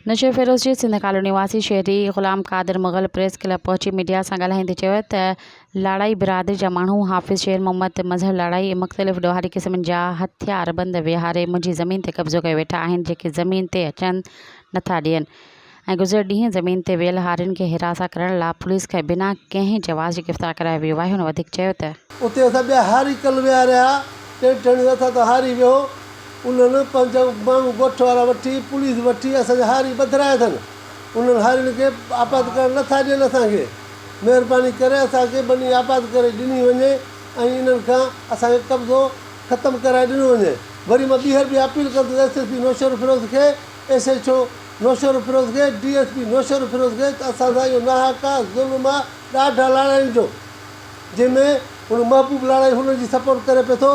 نشي فيروز جي سنڌ ڪالوني واسي شهري غلام قادر مغل پريس ڪلب پهچي ميڊيا سان ڳالهائيندي چيو ته لاڙائي برادري جا ماڻهو حافظ شير محمد مظهر لاڙائي ۽ مختلف ڏوهاري قسمن جا هٿياربند ويهاري منهنجي زمين تي قبضو ڪيو ويٺا آهن جيڪي زمين تي اچن نٿا ڏين ۽ گذريل ڏينهن زمين تي ويل هارين کي هراسان ڪرڻ لا پوليس کي بنا ڪنهن جواز جي گرفتار ڪرايو ويو آهي هن وڌيڪ چيو ته. اتي اسان ٻيا هاري ڪل ويهاريا ٽينٽ هڻيو اٿا ته هاري ويهو انهن پنج ماڻهو ڳوٺ وارا وٺي پوليس وٺي اسان جا هاري ٻڌرايا اٿن. انهن هارين کي آپاد ڪرڻ نه ٿا ڏين اسان کي. مهرباني ڪري اسان کي ٻني آپاد ڪري ڏني وڃي ۽ انهن کان اسان کي قبضو ختم ڪرائي ڏنو وڃي. وري مان ٻيهر به اپيل ڪندس ايس ايس پي نوشهروفيروز کي، ايس ايڇ او نوشهروفيروز کي، ڊي ايس پي نوشهروفيروز کي ته اسان سان اهو ناحق آ ظلم آ ڏاڍا لاڙائين جو جنهن ۾ هن محبوب لاڙائي هن جي سپورٽ ڪري پئي ٿو.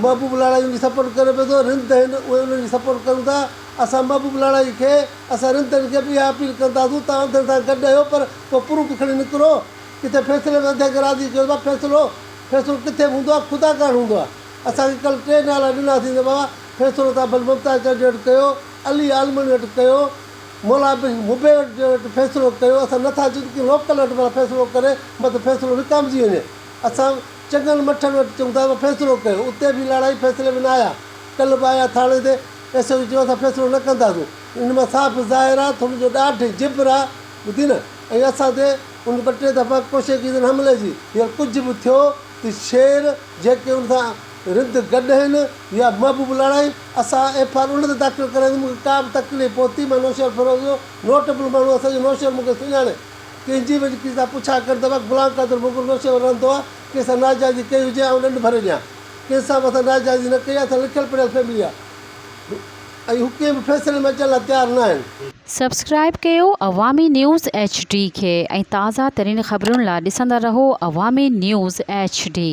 محبوب لاڙائيء جي سپورٽ ڪري پئي ٿو رند تي هن اهي انهن جي سپورٽ ڪن ٿا اسان محبوب لاڙائي کي اسان رند تي هن کي به اها اپيل ڪنداسون ته اوهان انڌن سان گڏ اهيو پر ڪو پروف کڻي نڪرو ڪٿي فيصلي ۾ انڌن کي راضي ڪيو ٿا فيصلو فيصلو ڪٿي به هوندو آهي خدا ڪاڻ هوندو آهي اسان کي ڪل ٽي نالا ڏناسين ته بابا فيصلو توهان ڀل ممتاز چاچي وٽ ڪيو علي عالمڻي وٽ ڪيو مولا بخش مبين وٽ جي وٽ فيصلو ڪيو اسان نٿا چون ته ڪنهن لوڪل وٽ ڀلا فيصلو ڪري مت فيصلو وڪامجي وڃي اسان چڱن مٺن وٽ چڱ ٿا ته فيصلو ڪيو. اتي به لاڙا ئي فيصلي ۾ نه آيا. ڪلهه به آيا ٿاڻي تي. ايس ايڇ او چيو اسان فيصلو نه ڪنداسون. ان مان صاف ظاهر آ ته هن جو ڏاڍ ۽ جبر آ. ٻڌين ۽ اسان تي ان ٻه ٽي دفعا ڪوشيڪيدن حملي جي. هينئر ڪجهه به ٿيو ته شير جيڪي ان سان رند گڏ آهن يا محبوب لاڙائي اسان ايف آر ان تي داخل ڪرائينداسون. مون کي ڪا به تڪليف پهتي مان نوشهر فيروز جو نوٽ ايبل ماڻهو آهيان سڄو نوشهر مون کي سڃاڻي. ڪنهن جي به ڪنهن سان پڇا ڪر ته وق فلان قدر مغل نوشهري ۾ رهندو آهي، ڪنهن سان ناجائزي ڪئي هجي آئون ڏنڊ ڀري ڏيان. ڪنهن سان به اسان ناجائزي نه ڪئي آهي، اسان لکيل پڙهيل فيملي آهي ۽ هو ڪنهن به فيصلي ۾ اچڻ لاء تيار نه آهن. سبسڪرائيب ڪيو عوامي نيوز ايڇ ڊي کي ۽ تازه ترين خبرن لاء ڏسندا رهو عوامي نيوز ايڇ ڊي.